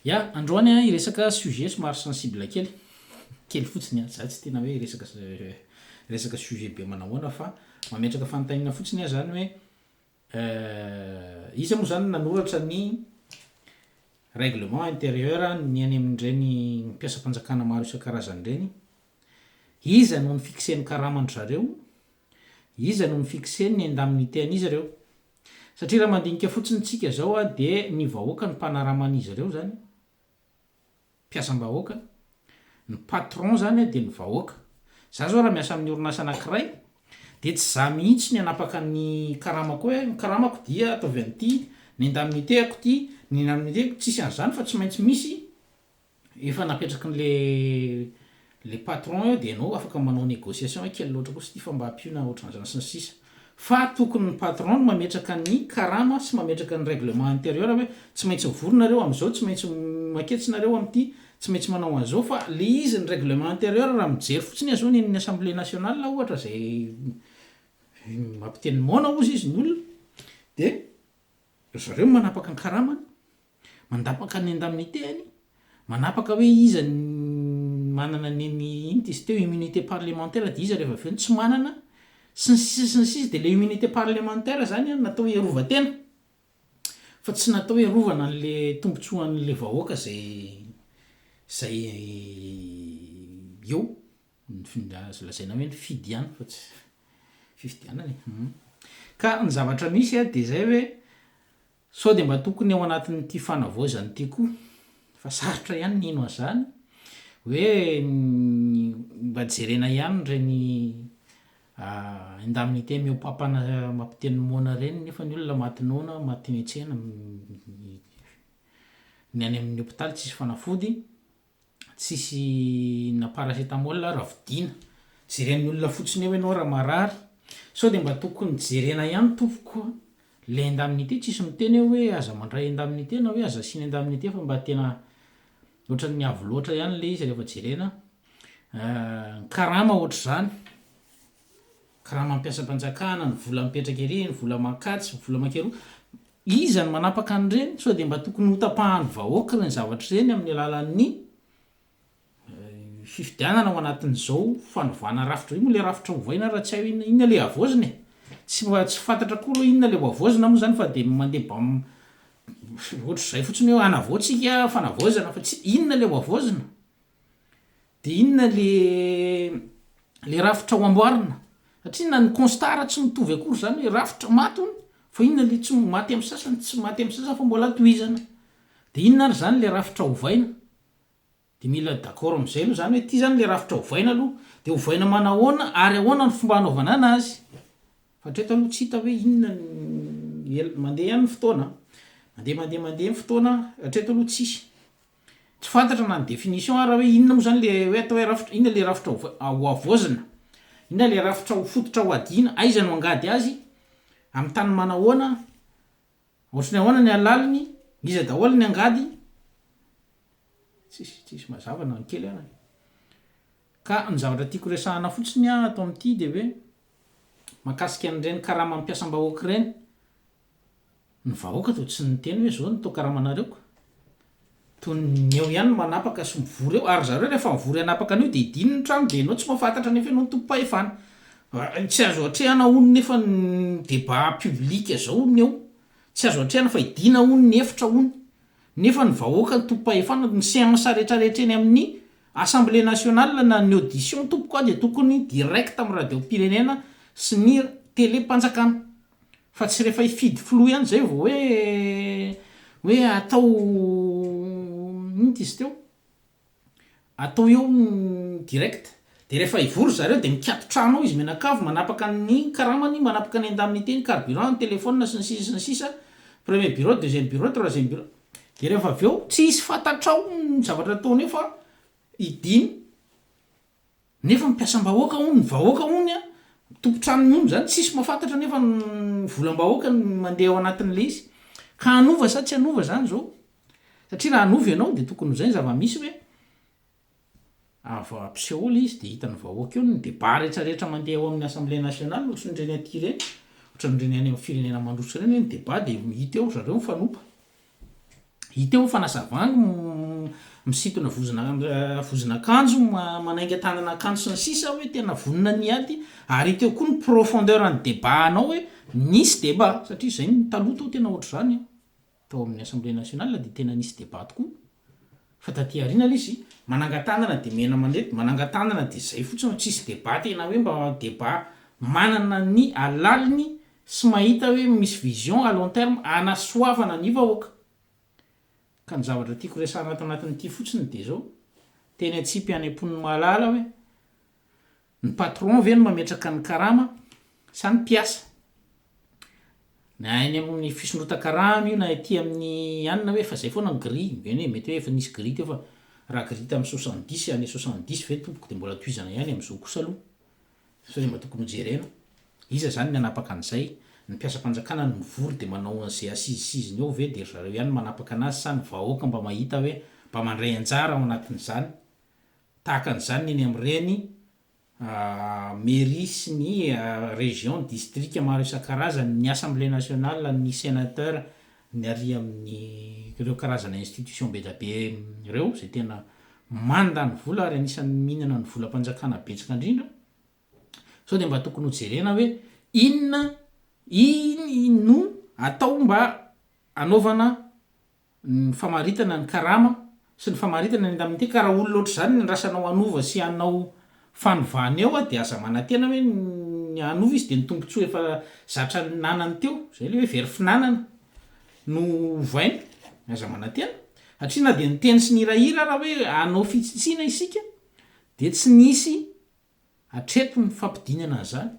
Ya, androany an hiresaka sujet somary sensible kely, kely fotsiny an, za tsy tena hoe hiresaka resaka sujet be manahoana fa mametraka fanontaniana fotsiny ah zany hoe iza moa zany no nanoratra ny règlement intérieur ny any amin'ireny mpiasam-panjakana maro isan-karazany ireny, iza no ni-fixer ny karaman-dry zareo, Iza no mi-fixer ny indemnité an'izy ireo? Satria raha mandinika fotsiny tsika izao dia ny vahoaka no mpanarama an'izy ireo izany, mpiasam-bahoaka, ny patron izany dia ny vahoaka. Za izao raha miasa amin'ny orinasa anankiray dia tsy za mihitsy ny hanapaka ny karamako hoe ny karamako dia ataovy an'ity, ny indemnité-ko ity, ny indemnité-ko, tsisy an'izany fa tsy maintsy misy efa napetraky le le patron eo de enao afaka manao negociation hoe kely loatra kosa ity fa mba ampiona otranzany sy ny sisa fa tokony ny patron no mametraka ny karama sy mametraka ny règlement intérieur hoe tsy maintsy mivory nareo amzao tsy maintsy maketsy nareo amty tsy maintsy manao anzao fa le izy ny règlement intérieur raha mijery fotsiny aza ony ny assemblée nationale ohatra zay mampiteny moana ozy izy ny olona de Ry zareo no manapaka ny karamany, mandapaka ny indemnité-any, manapaka hoe iza ny manana ny an'ny inona izy teo, immunité parlementaire dia iza raha vao avy eo no tsy manana, sy ny sisa sy ny sisa. Dia ilay immunité parlementaire izany an, natao hiarovan-tena, fa tsy natao hiarovana an'ilay tombontsoan'ilay vahoaka izay izay eo. Azo lazaina hoe nifidy ihany fa tsy fifidianana e. Ka ny zavatra misy dia izay hoe sao dia mba tokony ao anatin'ity fanavaozana ity koa, fa sarotra ihany ny hino an'izany, hoe mba jerena ihany ireny indemnité mihoa papana mampiteny moana ireny nefa ny olona maty noana, maty niantsena, ny any amin'ny hopitaly tsisy fanafody. tsisy na paracetamol ara vidiana, jeren'ny olona fotsiny eo ianao raha marary, sao dia mba tokony jerena ihany tompoko le indemnité tsisy miteny aho hoe aza mandray indemnité na hoe aza asiana indemnité fa mba tena ohatran'ny avo loatra ihany le izy rehefa jerena, ny karama ohatr'izany, karama ampiasam-panjakana, ny vola mipetraka ery, ny vola mankatso, ny vola mankeroa, Iza no manapaka an'ireny? Sao dia mba tokony hotapahan'ny vahoaka ireny zavatra ireny amin'ny alalan'ny fifidianana ao anatin'izao fanovana rafitra izao? Io moa ilay rafitra hovaina raha tsy hay hoe inona inona ilay havaozina e? Tsy tsy fantatra koa aloha inona ilay hohavaozina moa izany fa dia mandeha bam ohatr'izay fotsiny hoe hanavaoa tsika fanavaozana fa tsy inona ilay hohavaozina? Dia inona le le rafitra ho amboarina? Satria na ny constat-ra tsy mitovy akory zany hoe rafitra maty hono fa inona le tsy maty am sasany tsy maty am sasany fa mbola tohizana? Dia inona ary zany le rafitra ovaina? Dia mila d'accord am zay aloha zany hoe ty zany le rafitra ovaina aloha dia ovaina manahoana ary ahoana ny fomba anaovana anazy? Fa hatreto aloha tsy hita hoe inona ny el- mandeha ihany ny fotoana an! Mandeha mandeha mandeha ny fotoana hatreto aloha tsisy. Tsy fantatra na ny définition ara hoe inona moa zany le hoe atao hoe rafitra, inona le rafitra ho havaozina, inona le rafitra ho fototra ho hadiana, aiza no angady azy, amin'ny tany manahoana, ohatry ny ahoana ny halaliny, iza daholo ny angady, tsisy tsisy mazava na ny kely ara e. Ka ny zavatra tiako resahana fotsiny ato amin'ity de hoe mahakasika an'ireny karamam-piasam-bahoaka ireny Ny vahoaka dia tsy niteny hoe zao ny tao karamanareo ka. Toy ny eo ihany ny manapaka sy mivory eo. Ary zareo rehefa mivory hanapaka an'io dia hidiny ny trano dia ianao tsy mahafantatra nefa ianao no tompom-pahefana. Tsy azo atrehana hono nefa ny débat public zao ny eo. Tsy azo atrehana fa hidina hono ny efitra hono. Nefa ny vahoaka no tompom-pahefana. Ny seance rehetra rehetra eny amin'ny assemblée nationale na ny audition tompoko aho dia tokony direct amin'ny radiom-pirenena sy ny télé-panjakana. Fa tsy rehefa hifidy filoha ihany izay vao hoe hoe atao inona izy teo? atao eo direct. Dia rehefa hivory ry zareo dia mikato trano ao izy mianakavy, manapaka ny karamany, manapaka ny indemnité, ny carburant, ny téléphone sy ny sisa sy ny sisa, premier bureau, deuxième bureau, troisième bureau. Dia rehefa avy eo, tsy hisy fantatrao ny zavatra ataony eo fa hidiny. Nefa mpiasam-bahoaka hono ny vahoaka hono an, tompon-tranony hono zany tsisy mahafantatra nefa ny volam-bahoaka no mandeha ao anatin'le izy. Ka hanova sa tsy hanova zany zao? Satria raha hanova ianao dia tokony ho zay ny zava-misy ve? Avy ao ampiseho ao le izy dia hitan'ny vahoaka eo ny débat rehetra rehetra mandeha ao amin'ny assemblée nationale ohatran'ireny aty ireny, ohatran'ireny any amin'ny firenena mandroso ireny hoe ny débat dia hita eo ry zareo mifanompa. Hita eo ny fanazavan'ny misintona vozon'akanjo, manainga tanana akanjo sy ny sisa hoe tena vonona ny hiady ary hita eo koa ny profondeur an'ny débat anao hoe nisy débat satria zay ny taloha tao tena ohatr'izany an! tao amin'ny assemblée nationale dia tena nisy débat tokoa Fa taty aoriana aloha izy manangan-tanana dia mena manety, manangan-tanana dia izay fotsiny, tsisy débat tena hoe mba débat manana ny alaliny sy mahita hoe misy vision à long terme hanasoavana ny vahoaka. Ka ny zavatra tiako resahana ato anatin'ity fotsiny dia izao, teny antsipy any am-pon'ny mahalala hoe, Ny patron ve no mametraka ny karama sa ny mpiasa? Na eny amin'ny fisondrotan-karama io na ety amin'ny anona hoe fa zay foana ny grille, eny e, mety hoe efa nisy grille teo fa raha grille tamin'ny soixante dix année soixante dix ve tompoko dia mbola tohizana ihany amin'izao kosa aloha satria mba tokony ho jerena. Iza zany ny hanapaka an'izay? Ny mpiasam-panjakana no mivory dia manao an'izay asizisiziny eo ve dia ry zareo ihany no manapaka anazy sa ny vahoaka mba mahita hoe mba mandray anjara ao anatin'izany? Tahaka an'izany ny eny amin'ireny Mairie sy ny Région, Distrika maro isan-karazany, ny Assemblée Nationale, ny Sénateur, ny ary amin'ireo karazana institution bedabe ireo izay tena mandany vola ary anisan'ny mihinana ny volam-panjakana betsaka indrindra. Sao dia mba tokony ho jerena hoe inona iny no atao mba anaovana ny famaritana ny karama sy ny famaritana ny indemnité ka raha olona ohatr'izany no andrasanao hanova sy hanao fanovana eo dia aza manantena hoe ny hanova izy dia ny tombotsoa efa zatra nanany teo izay ilay hoe very finanana no ovaina aza manantena satria na dia niteny sy nihirahira ara hoe hanao fitsitsiana isika dia tsy nisy Hatreto ny fampidinana an'izany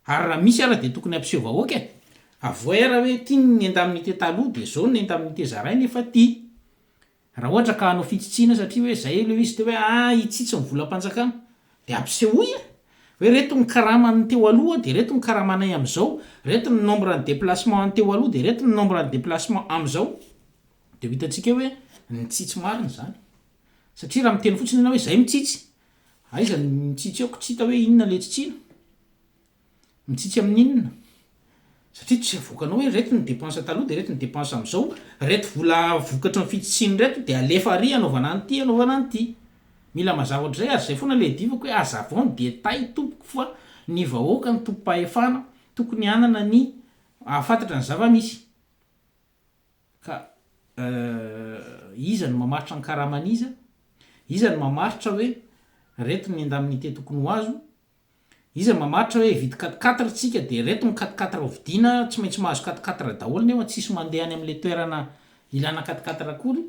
ary raha misy ara dia tokony hampiseho vahoaka e! Avohay ara hoe ity ny indemnité taloha dia zao ny indemnité zaraina efa ty! Raha ohatra ka hanao fitsitsiana satria hoe zay ileo izy teo hoe a hitsitsy ny volam-panjakana dia ampisehoy e! Hoe reto ny karama ny teo aloha dia reto ny karamanay amin'izao, reto ny nombre ny déplacement any teo aloha dia reto ny nombre ny déplacement amin'izao dia ho hitantsika hoe nitsitsy marina izany satria raha miteny fotsiny ianao hoe zay mitsitsy Aiza ny mitsitsy aoko tsy hita hoe inona le tsitsiana? Mitsitsy amin'ny inona? Satria tsy avoakanao hoe reto ny depense taloha de reto ny depense amzao, reto vola vokatry ny fitsitsiny reto de alefa ary anaovana an'ity anaovana an'ity. Mila mazava ohatrizay ary zay foana le adivako hoe azavao ny détails tompoko fa ny vahoaka no tompom-pahefana tokony hanana ny hahafantatra ny zava-misy. Ka eh, iza no mamaritra ny karaman'iza? Iza no mamaritra hoe reto ny indemnité tokony ho azo? Iza no mamaritra hoe hividy quatre quatre tsika dia reto ny quatre quatre hovidiana, tsy maintsy mahazo quatre quatre daholo nefa tsisy mandeha any amin'ilay toerana ilana quatre quatre akory?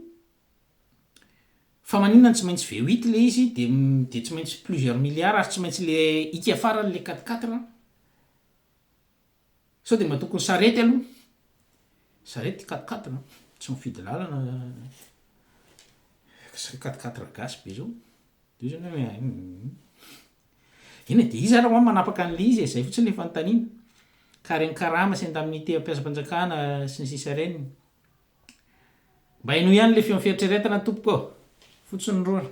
Fa maninona no tsy maintsy V huit ilay izy dia dia tsy maintsy plusieurs milliards ary tsy maintsy ilay ika farany ilay quatre quatre? Sao dia matoky ny sarety aloha? Sarety quat-quatre no tsy mifidy lalana, quat-quatre gasy be zao, de io zany hoe hum, eny e, de iza ary ho'a manapaka an'le izy e, zay fotsiny le fanontaniana, ka reny karama sy indemnité mpiasam-panjakana sy ny sisa reny, mba henoy ihany le feon'ny fieritreretana tompoko ô, fotsiny rora.